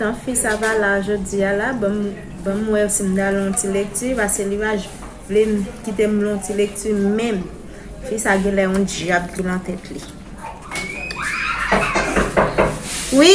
Tan fi sa va la jodi a la, ban m wè si m ta lon ti lekti, pase li pa vle m kite m lon ti lekti menm. Fi sa gen lè yon dyab ki lan tèt li. Wi!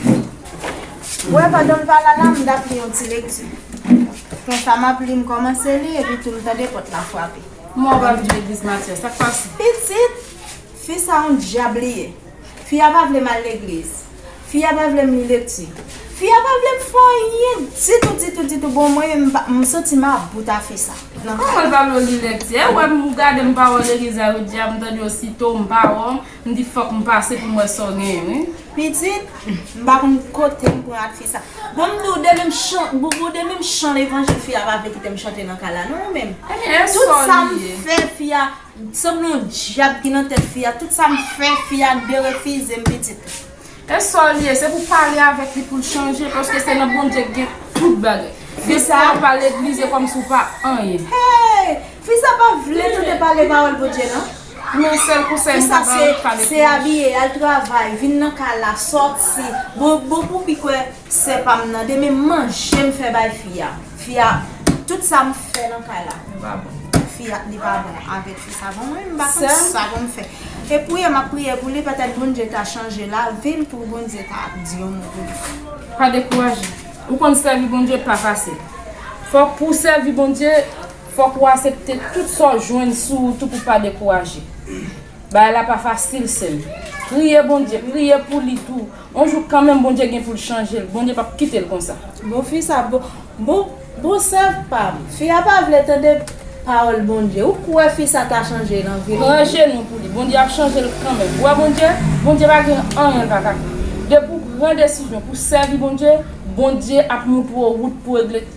M wè pandan m pa la la m t ap li yon ti lekti. Konsa m ap li m kòmanse li epi tou m tande pòt la frape. Kouman ou pa vin legliz Matyas? Sa k pase? Pitit! Fi sa yon dyab li ye. Fi a pa vle m al legliz. Fi a pa vle m li lekti. Fi a pa vle m fè anyen ditou ditou ditou bon mwen menm m santi m about a fi sa. Kòman l pa vle w li lekti? Ew wè m ou gade m pa wè w legliz la wi dyab m tande w sitou m pa wè w. M di fòk m pase pou m wè sa w genyen wi. Pitit, m pa konn kote m pran ak fi sa. Bon m di w de menm chan, Boubou de menm chan levanjil fi a pa vle kite m chante nan kay la non ou menm. Ebyen tout sa m fè fi a, sanble yon dyab ki nan tèt fi a, tout sa m fè fi a derefize m pitit. E sa w li ye, se pou w pale avèk li pou l chanje paske se nan Bondye ki gen tout bagay. Fi sa ap pale legliz e kòmsi w pa anyen. Hey! Fi sa pa vle tande pale pawòl Bondye nan. Pou yon sèl konsèy m ta baw pa dekouraje. Se abiye, al travay, vin nan kay la, sòti. Bon bon pou fi kwè sè pam nan de men manje m fè bay fi a. Fi a tout sa m fè nan kay la. Li pa bon. Fi a li pa bon avèk fi sa bon mwen m pa konn sa pou m fè. E priye map priye pou li petèt Bondye ta chanje lavil pou Bondye ta di yon mo pou li. Pa dekouraje. Ou konn sèvi Bondye pa fasil. Fòk pou w sèvi Bondye. Fòk ou asepte tout sa w jwenn sou ou tou pou pa dekouraje. Bagay la pa fasil sèm. Priye Bondye, priye pou li tou. On jou kanmenm Bondye gen pou l chanje l, Bondye pap kite l konsa. Bon fi sa bon bon sè pam. Fi a pa vle tande pawòl Bondye. Ou kwè fi sa ta chanje nan vil. Pran ajenou pou li. Bondye ap chanje l kanmenm. Ou wè Bondye, Bondye pa gen anyen l pa ka fè. Depi w pran desizyon pou w sèvi Bondye, Bondye ap moutre w wout pou w regle.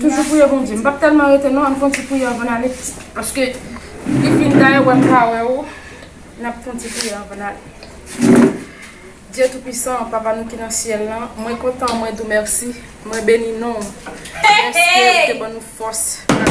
Toujou priye Bondye. M pap telman rete non ann fon ti priye anvan n ale paske li fin dayè wè m pa wè ou n ap fon ti priye anvan n ale. Dye tou pwisan papa nou ki nan syèl lan mwen kontan mwen di w mèsi mwen beni non w dèske ou te ban nou fòs nan.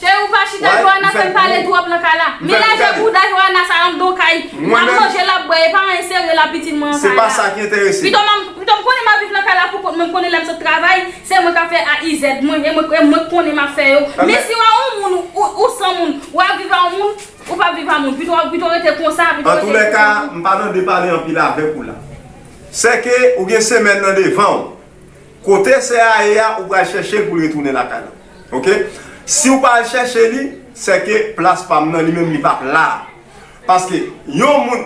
Cheri ou pa chita Joana fèm pale twòp nan kay la Men lajè bouda Joana sa andon kay Lap manje lap bwè epa anyen serye la pitit mwen an kay la Pito map pito m konnen map viv nan kay la poukont mwen m konnen lèm sot travay se mwen kap fè AIZ mwen e mwen k konnen map fè yo Men siw a yon moun ou san moun wap viv a yon moun ou pap viv a moun pito rete konsa Antoulèka m pa nan de pale anpil avèk ou la Sèke ou gen semèn nan devanw Kote sè a ye a ou pral chèchel poul retounen lakay la ok siw pa al chèche li sèke plas pam nan li menm li pap la paske yon moun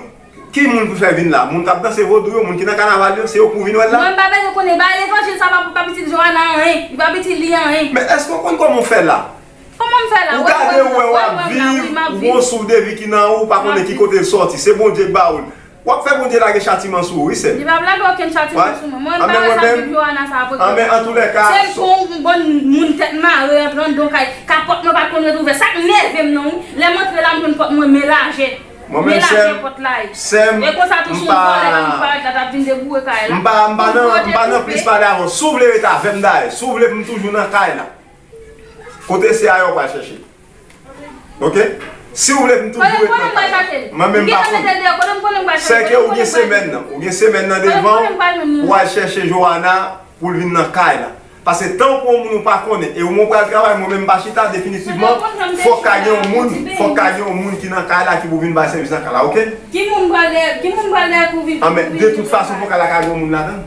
ki moun pou fè vin la moun kap danse vodou yo moun ki nan kanaval yo se yo pouw vin wèl la. Mwen pa bezwen konnen ba levanjil sa pa pitit Joana anyen li pa itil li anyen. Men eske ou konn koman ou fè la? Koman m fè la? Ou gade ou wè wap viv ou gon souf de vi ki nan ou ou pa konnen ki kote l sòti se Bondye k ba ou l Wap fè Bondye lage chatiman sou ou wi sèm. Li pap lage okenn chatiman sou mwen. Mwen pa wè sa vip Johanna sa pote pou mwen. Se pou yon bon moun tèt mare antre andedan kay. Ka pòt mwen pat konn ret ouvè. Sak nèvem nan wi. Lèm antre la m jwenn pòt mwen men lajè. Men lajè pòt la ye. E konsa tou si yon vòlè nan li parèt la tap vin deboure kay la. M pa nan plis pale avèw. Si w vle ret avèm dayè. Si w vle pou m toujou nan kay la. Kote se aye ou pral chèche ok si ou vle pou m toujou ret nan kay la mwen menm m pa konn se ke ou gen semèn nan ou gen semèn nan devan ou pou al chèche Joana pou l vin nan kay la paske tan ou pran yon moun ou pa konnen e ou menm ou pral travay mwen menm m pa chita definitivman fòk ka gen yon moun fòk ka gen yon moun ki nan kay la ki pou vin bay sèvis nan kay la ok anben de tout fason pou kay la ka gen yon moun ladan l.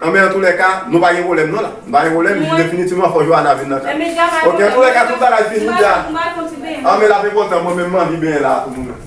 Anben antoulèka nou pa gen pwoblèm non la Nou pa gen pwoblèm jis definitivman fò Joana vin nan kay Ok antoulèka tout bagay fini deja Anben lap enpòtan mwen menm m anvi benyen la pou nou menm.